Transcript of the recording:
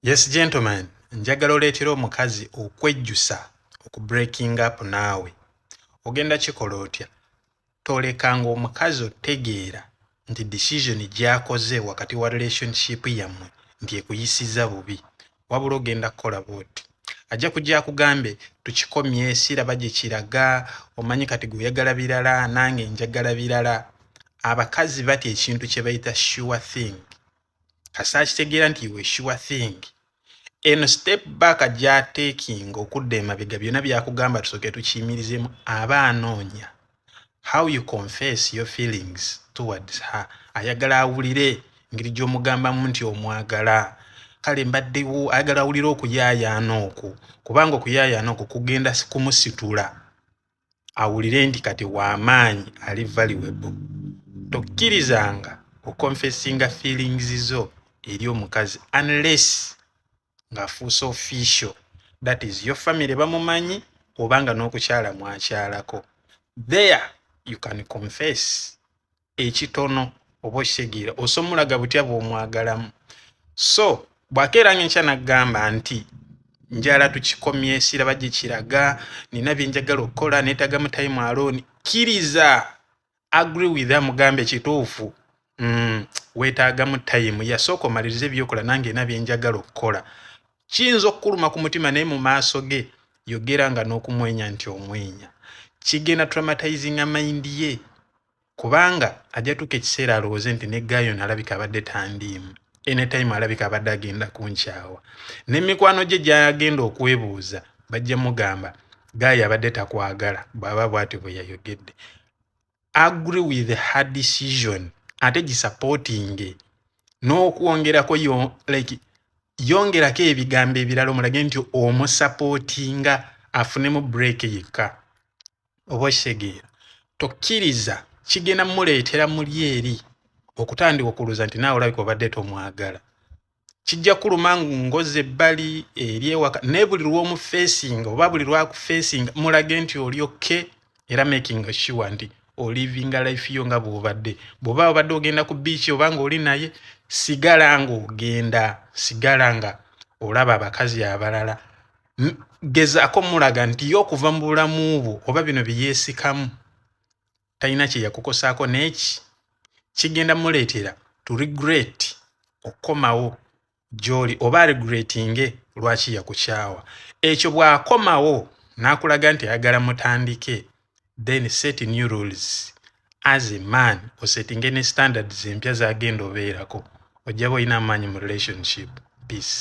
yes gentleman njagala oleetera omukazi okwejjusa oku breaking up naawe ogenda kikola otya tolekanga omukazi otegeera nti decision gyakoze wakati wa relationship yammwe nti ekuyisiza bubi wabula ogenda kukola bwoti ajja kujja akugambe tukikomye siraba gye kiraga omanyi kati gweoyagala birala nange njagala birala abakazi batya ekintu kye bayita sure thing kasaakitegeera nti iwe sure thing eno step back gyatekinga okudda emabega byonna byakugamba tusooke tukiyimirizemu aba anoonya how you confess your feelings towards her ayagala awulire ngeri gy'omugambamu nti omwagala kale mbaddewo ayagala awulire okuyaayaana okwo kubanga okuyaayaana okwo kugenda kumusitula awulire nti kati wamaanyi ali valuable tokkirizanga okonfesinga feelings zo eri omukazi unless ng'afuuse official that is your family bamumanyi oba nga n'okukyala mwakyalako there you can confess ekitono oba okitegeera osomulaga butya bw'omwagalamu so bw'akeera ng'enkya n'aggamba nti njala tukikomye siraba gye kiraga nina bye njagala okukola neetaaga mu time alooni kkiriza agree with her mugambe kituufu mm, weetaagamu tayimu yasooka omaliriza ebyokola nange ena byenjagala okukola kiyinza okukuluma ku mutima naye mu maaso ge yogera nga n'okumwenya nti omwenya kigenda traumatizinga mayindi ye kubanga ajja tuuka ekiseera alowooze nti ne ggaayi ono alabika abadde tandiimu anytime alabika abadde agenda kunkyawa ne mikwano gye gyagenda okwebuuza bajja mugamba ggaayi abadde takwagala bw'aba bw'atyo bwe yayogedde agree with her decision ate gisapootinge n'okwongerako yo like yongerako ebigambo ebirala omulage nti omusapootinga afunemu break yekka oba okitegeera tokkiriza kigenda muleetera muli eri okutandika okuluza nti naawe olabika obadde tomwagala kijja kuluma ngozi ebbali eri ewaka naye buli lwomufeesinga oba buli lwakufeesinga mulage nti oli okke era making sure nti olivinga life yo nga bwobadde bwoba obadde ogenda ku biiki oba nga oli naye sigala nga ogenda sigala nga olaba abakazi abalala gezaako mulaga nti ye okuva mu bulamu bwo oba bino byeyeesikamu talina kye yakukosaako neeki kigenda muleetera to regret okukomawo gy'oli oba regretinge lwaki yakukyawa ekyo bw'akomawo n'akulaga nti ayagala mutandike then set new rules as a man osettinge ne standards empya zagenda obeerako ojjaba olina amaanyi mu relationship peace